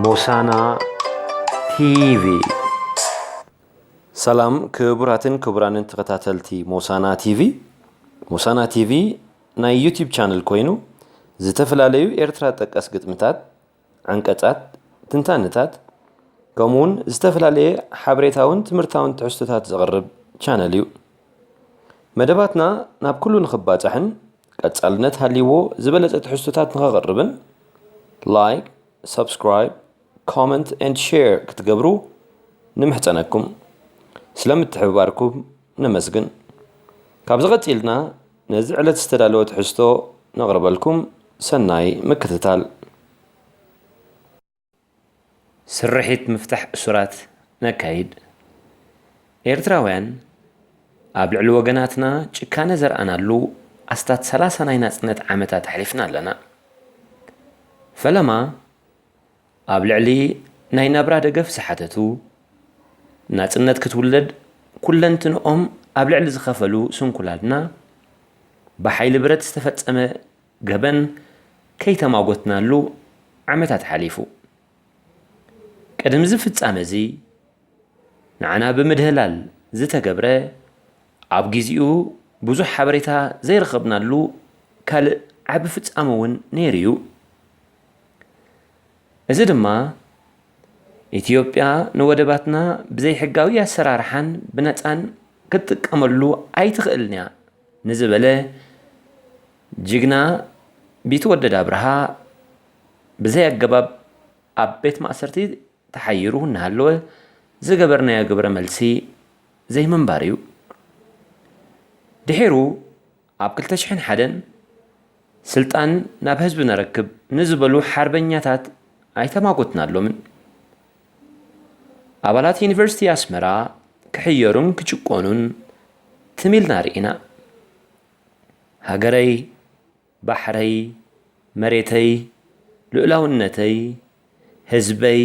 ሞሳና ቲቪ ሰላም ክቡራትን ክቡራንን ተኸታተልቲ ሞሳና ቲቪ ሞሳና ቲቪ ናይ ዩቲብ ቻነል ኮይኑ ዝተፈላለዩ ኤርትራ ጠቀስ ግጥምታት ዓንቀጻት ትንታንታት ከምኡውን ዝተፈላለየ ሓበሬታውን ትምህርታውን ትሕዝቶታት ዘቕርብ ቻነል እዩ መደባትና ናብ ኩሉ ንኽባጻሕን ቀጻልነት ሃልይዎ ዝበለጸ ትሕዝቶታት ንኸቕርብን ላይክ ሰብስክራይብ ኮመንት ኤንድ ሼር ክትገብሩ ንምሕጸነኩም ስለ ምትሕብባርኩም ነመስግን ካብዚ ቀጺልና ነዚ ዕለት ዝተዳለወ ትሕዝቶ ነቕርበልኩም ሰናይ ምክትታል ስርሒት ምፍታሕ እሱራት ነካይድ። ኤርትራውያን ኣብ ልዕሊ ወገናትና ጭካነ ዘርኣናሉ ኣስታት ሰላሳ ናይ ናጽነት ዓመታት ኣሕሊፍና ኣለና። ፈለማ ኣብ ልዕሊ ናይ ናብራ ደገፍ ዝሓተቱ፣ ናጽነት ክትውለድ ኩለንትንኦም ኣብ ልዕሊ ዝኸፈሉ ስንኩላትና ብሓይሊ ብረት ዝተፈጸመ ገበን ከይተማጐትናሉ ዓመታት ሓሊፉ። ቅድምዚ ፍጻመዚ ንዓና ብምድህላል ዝተገብረ ኣብ ግዜኡ ብዙሕ ሓበሬታ ዘይረኸብናሉ ካልእ ዓቢ ፍጻመ እውን ነይሩ'ዩ። እዚ ድማ ኢትዮጵያ ንወደባትና ብዘይሕጋዊ ኣሰራርሓን ብነጻን ክትጥቀመሉ ኣይትኽእልን'ያ ንዝበለ ጅግና ቢትወደድ ኣብርሃ ብዘይ ኣገባብ ኣብ ቤት ማእሰርቲ ተሓይሩ እናሃለወ ዝገበርናዮ ግብረ መልሲ ዘይምንባር እዩ። ድሒሩ ኣብ ክልተ ሽሕን ሓደን ስልጣን ናብ ህዝቢ ነረክብ ንዝበሉ ሓርበኛታት ኣይተማጎትናሎምን። ኣባላት ዩኒቨርሲቲ ኣስመራ ክሕየሩን ክጭቆኑን ትም ኢልና ርኢና። ሃገረይ ባሕረይ መሬተይ ልኡላውነተይ ህዝበይ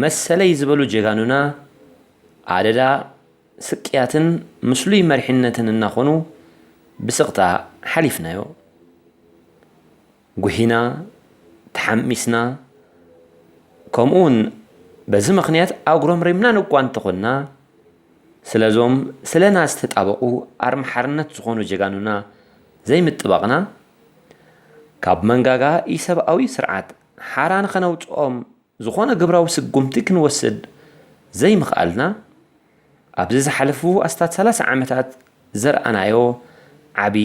መሰለይ ዝበሉ ጀጋኑና ኣደዳ ስቅያትን ምስሉይ መሪሕነትን እናኾኑ ብስቕታ ሓሊፍናዮ። ጉሂና፣ ተሓሚስና፣ ከምኡውን በዚ ምኽንያት ኣጉረምሪምና ን'ኳ እንተኾንና፣ ስለ'ዞም ስለና ዝተጣበቑ ኣርማ ሓርነት ዝኾኑ ጀጋኑና ዘይምጥባቕና፣ ካብ መንጋጋ ኢሰብኣዊ ስርዓት ሓራ ንኸነውጽኦም ዝኾነ ግብራዊ ስጉምቲ ክንወስድ ዘይምኽኣልና ኣብዚ ዝሓለፉ ኣስታት ሰላሳ ዓመታት ዘርኣናዮ ዓቢ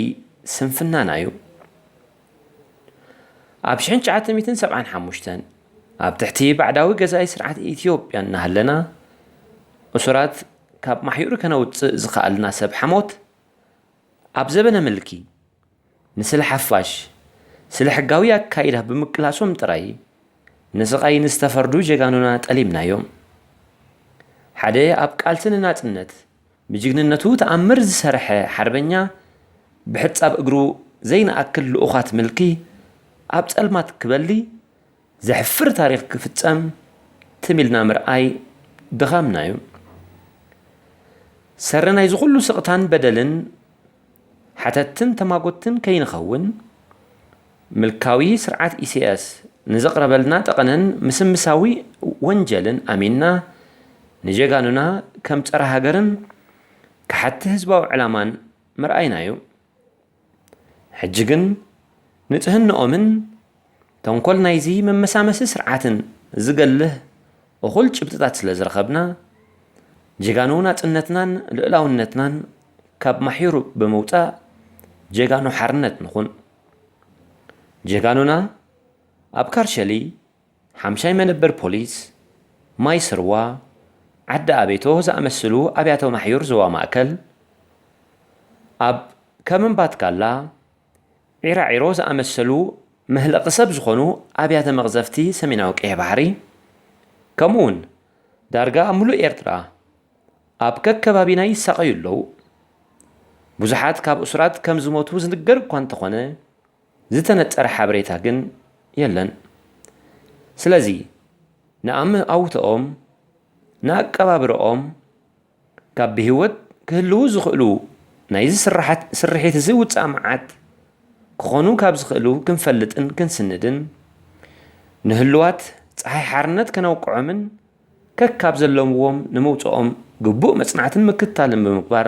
ስንፍናና'ዩ። ኣብ ሽሕን ትሽዓተ ሚእትን ሰብዓን ሓሙሽተን ኣብ ትሕቲ ባዕዳዊ ገዛኢ ስርዓት ኢትዮጵያ እናሃለና እሱራት ካብ ማሕዩር ከነውጽእ ዝኸኣልና ሰብ ሓሞት፣ ኣብ ዘበነ ምልኪ፣ ንስለ ሓፋሽ ስለ ሕጋዊ ኣካይዳ ብምቅላሶም ጥራይ ንስቓይ ንዝተፈርዱ ጀጋኑና ጠሊምናዮም። ሓደ ኣብ ቃልሲ ንናጽነት ብጅግንነቱ ተኣምር ዝሰርሐ ሓርበኛ ብሕጻብ እግሩ ዘይንኣክል ልኡኻት ምልኪ ኣብ ጸልማት ክበሊ፣ ዘሕፍር ታሪኽ ክፍጸም ትም ኢልና ምርኣይ ድኻምና እዩ። ሰሪ ናይዚ ኩሉ ስቕታን በደልን ሓተትትን ተማጎትትን ከይንኸውን ምልካዊ ስርዓት ኢሳያስ ንዘቕረበልና ጠቐነን ምስምሳዊ ወንጀልን ኣሚንና ንጀጋኑና ከም ጸረ ሃገርን ከሓድቲ ህዝባዊ ዕላማን ምርኣይና እዩ። ሕጂ ግን ንጽህንኦምን ተንኮል ናይዚ መመሳመሲ ስርዓትን ዝገልህ እኹል ጭብጥታት ስለ ዝረኸብና፣ ጀጋኑ ናጽነትናን ልኡላውነትናን ካብ ማሕዩር ብምውጻእ ጀጋኑ ሓርነት ንኹን። ጀጋኑና ኣብ ካርሸሊ፣ ሓምሻይ መነበር ፖሊስ ማይ ስርዋ፣ ዓዲ ኣቤቶ ዝኣመስሉ ኣብያተ ማሕዩር ዞባ ማእከል፣ ኣብ ከም እምባትካላ፣ ዒራዒሮ ዝኣመሰሉ መህለቒ ሰብ ዝኾኑ ኣብያተ መቕዘፍቲ ሰሜናዊ ቀይሕ ባሕሪ፣ ከምኡ'ውን ዳርጋ ኣብ ምሉእ ኤርትራ ኣብ ከከባቢና ይሳቐዩ ኣለዉ። ብዙሓት ካብ እሱራት ከም ዝሞቱ ዝንገር እኳ እንተኾነ፣ ዝተነጸረ ሓበሬታ ግን የለን። ስለዚ ንኣመኣውትኦም፣ ንኣቀባብርኦም፣ ካብ ብህይወት ክህልዉ ዝኽእሉ ናይዚ ስርሓት ስርሒትዚ ውጽኣ መዓት ክኾኑ ካብ ዝኽእሉ ክንፈልጥን ክንስንድን፣ ንህሉዋት ጸሓይ ሓርነት ከነውቅዖምን፣ ከካብ ዘለምዎም ንምውፅኦም ግቡእ መፅናዕትን ምክትታልን ብምግባር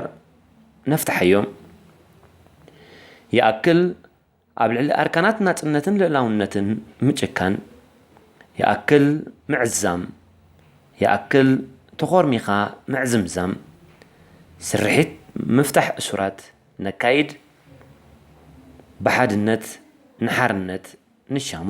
ነፍትሓዮም። ይኣክል ኣብ ልዕሊ ኣርካናት ናፅነትን ልእላውነትን ምጭካን። ይኣክል ምዕዛም። ይኣክል ተኾርሚኻ ምዕዝምዛም። ስርሒት ምፍታሕ እሱራት ነካይድ። ብሓድነት ንሓርነት ንሻሞ።